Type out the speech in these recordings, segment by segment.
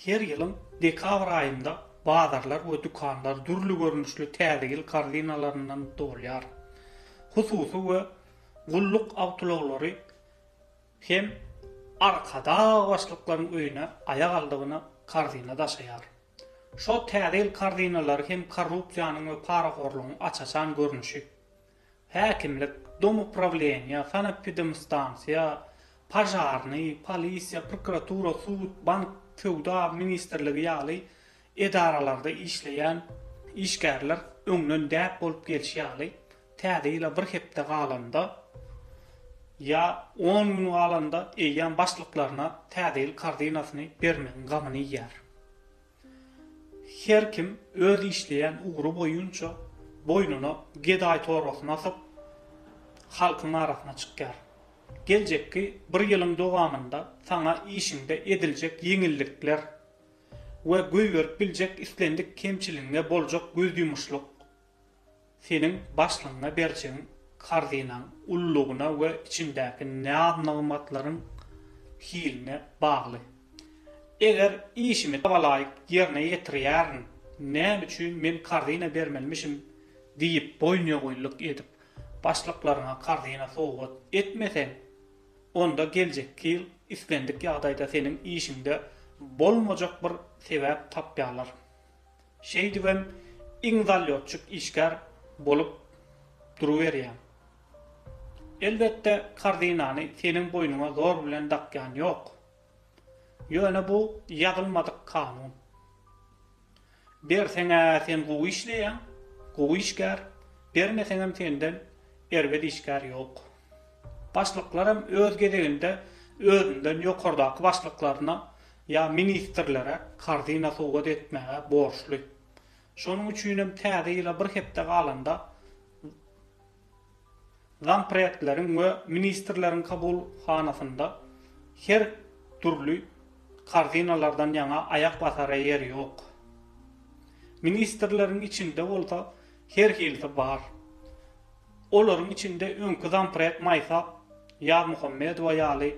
Her ýylyň dekabr aýynda bazarlar we dükanlar dürli görnüşli Täze ýyl korzinalaryndan dolýar. Hususy we gulluk awtoulaglary hem Arkadag başlyklaryň öýüne aýak aldygyna korzina daşaýar. Şo Täze ýyl korzinalary hem korrupsiýanyň we parahorlugyň aç-açan görnüşi. Häkimlik, domuprawleniýe, sanepidemstansiýa, požarnyý, polisiýa, prokuratura, sud, bank, söwda ministrligi ýaly edaralarda işleýän işgärler öňden däp bolup gelşi ýaly, Täze ýyla bir hepde galanda ýa on gün galanda eýýäm başlyklaryna Täze ýyl korzynasyny bermegiň gamyny iýýär. Her kim öz işleýän ugry boýunça boýnuna gedaý torbasyny asyp, halkyň arasyna çykýar. Geljekki bir ýylyň dowamynda saňa işiňde ediljek ýeňillikler we goýberip biljek islendik kemçiligiňe boljak gözýumuşlyk Seniň başlygyňa berjegiň karzynaň ululygyna we içindäki naz-nygmatlaryň hiline bagly. Eger işimi tabalaýyk ýerine ýetirýärin, näme üçin men karzyna bermelimişim diýip boýnuýogynlyk edip, başlyklaryňa karzyna sowgat etmeseň, onda geljekki ýyl islendik ýagdaýda seniň işiňde bolmajak bir sebäp tapýarlar. Şeýdibem iň zalýotçik işgär bolup duruberýäň. Elbetde, korzinany seniň boýnuňa zor bilen dakýan ýok. Ýöne bu ýazylmadyk kanun. Berseň-ä sen gowy işleýäň, gowy işgär, bermeseňem senden erbet işgär ýok. Başlyklar hem öz gezeginde özünden ýokardaky başlyklaryna ýa ministrlere korzyna sowgat etmäge borçly. Şonuň üçin hem täze ýyla bir hepde galanda zampredleriň we ministrleriň kabulhanasynda her dürli korzynalardan ýaňa aýak basara ýer ýok. Ministrleriň içinde bolsa her hilisi bar. Olaryň içinde öňki zamprek Maýsa Ýazmuhammedowa ýaly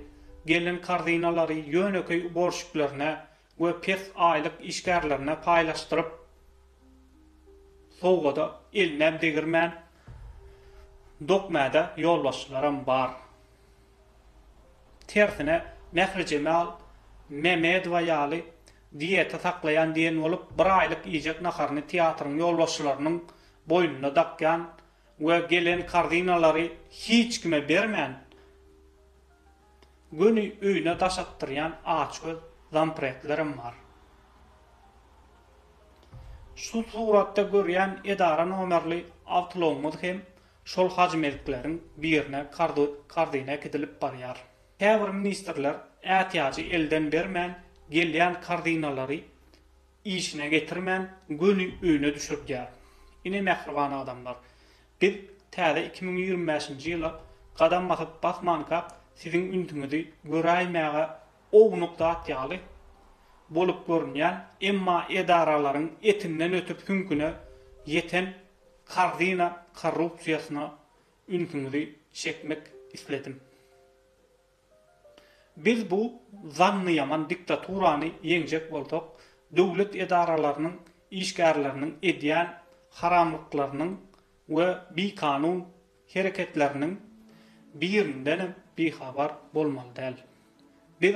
gelin korzinalary ýönekeý uborşiklerine we pes aýlyk işgärlerine paýlaşdyryp, sowgada elinäm degirmän dokmäde ýolbaşçylaram bar. Tersine, Mährijemal Mämedowa ýaly diýete saklaýan diýen bolup, bir aýlyk iýjek naharyny teatryň ýolbaşçylarynyň boýnuna dakýan we gelen korzinalary hiç kime bermän, göni öýüne daş atdyrýan açgöz zampretlerem bar. Şu suratda görýän edara nomerli awtoulagymyz hem şol hajymezikleriň birine korzina äkidilip barýar. Käbir ministrler ätiýajy elden bermän, gelýän korzinalary işine getirmän göni öýüne düşürdýär. Ine mähriban adamlar, biz täze iki müň ýigrimi bäşinji ýyla gadam basyp basmanka siziň ünsüňizi göräýmäge ownuk zat ýaly bolup görünýän, emma edaralaryň etinden ötüp süňküne ýeten karzina korrupsiýasyna ünsüňizi çekmek isledim. Biz bu zannyýaman diktaturany ýeňjek bolsak, döwlet edaralarynyň işgärleriniň edýän haramlyklarynyň we bikanun hereketleriniň birindenem bihabar bolmaly däl. Biz